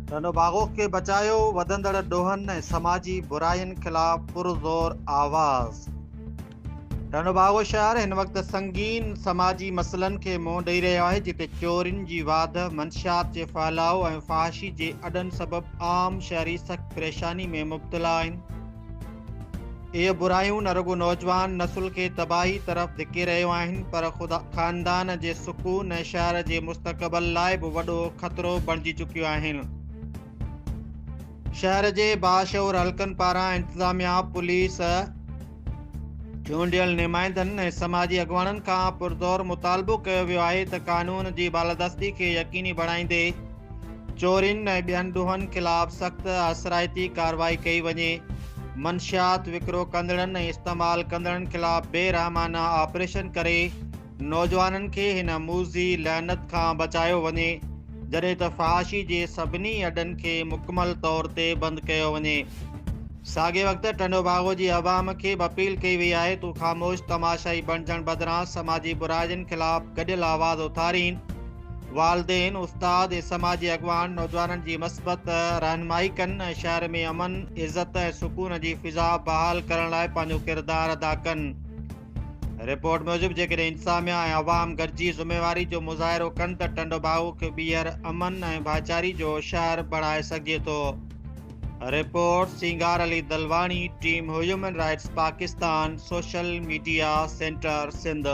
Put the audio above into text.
ڌنو باغوخ کي بچايو، وڌندڙ ڏوهن ۽ سماجي براين خلاف پرزور آواز. ڌنو باغو شهر هن وقت سنگين سماجي مسئلن کي منهن ڏئي رهيو آهي جتي چورين جي واڌ، منشيات جي ڦهلاء ۽ فحاشي جي اڏن سبب عام شهري سخت پريشاني ۾ مبتلا آهن. اهي برايون نه رڳو نوجوان نسل کي تباهي طرف ڌڪي رهيو آهن پر خود خاندان جي سڪون ۽ شهر جي مستقبل لاء به وڏو خطرو بڻجي چڪيون آهن شهر جي باشعور حلقن پاران انتظاميا پوليس چونڊيل نمائندن ۽ سماجي اڳواڻن کان پرزور مطالبو ڪيو ويو آهي ته قانون جي بالادستي کي يقيني بڻائيندي چورين ۽ ٻين ڏوهن خلاف سخت اثرائتي ڪارروائي ڪئي وڃي، منشيات وڪرو ڪندڙن ۽ استعمال ڪندڙن خلاف بي رحمانه آپريشن ڪري نوجوانن کي هن موذي لعنت کان بچايو وڃي، جڏهن ته فحاشي جي سڀني اڏن کي مڪمل طور تي بند ڪيو وڃي. ساڳئي وقت ٽنڊوباگو جي عوام کي به اپيل ڪئي وئي آهي ته هو خاموش تماشائي بڻجڻ بدران سماجي برائين خلاف گڏيل آواز اٿارين، والدين، استاد ۽ سماجي اڳواڻ نوجوانن جي مثبت رهنمائي ڪن ۽ شهر ۾ امن، عزت ۽ سڪون جي فضا بحال ڪرڻ لاء پنهنجو ڪردار ادا ڪن. رپورٽ موجب جيڪڏهن انتظاميا ۽ عوام گڏجي ذميواري جو مظاهرو ڪن ته ٽنڊوباهو کي ٻيهر امن ۽ ڀائچاري جو شهر بڻائي سگهجي ٿو. Report Singar Ali Dalwani team human rights Pakistan social media centre Sindh.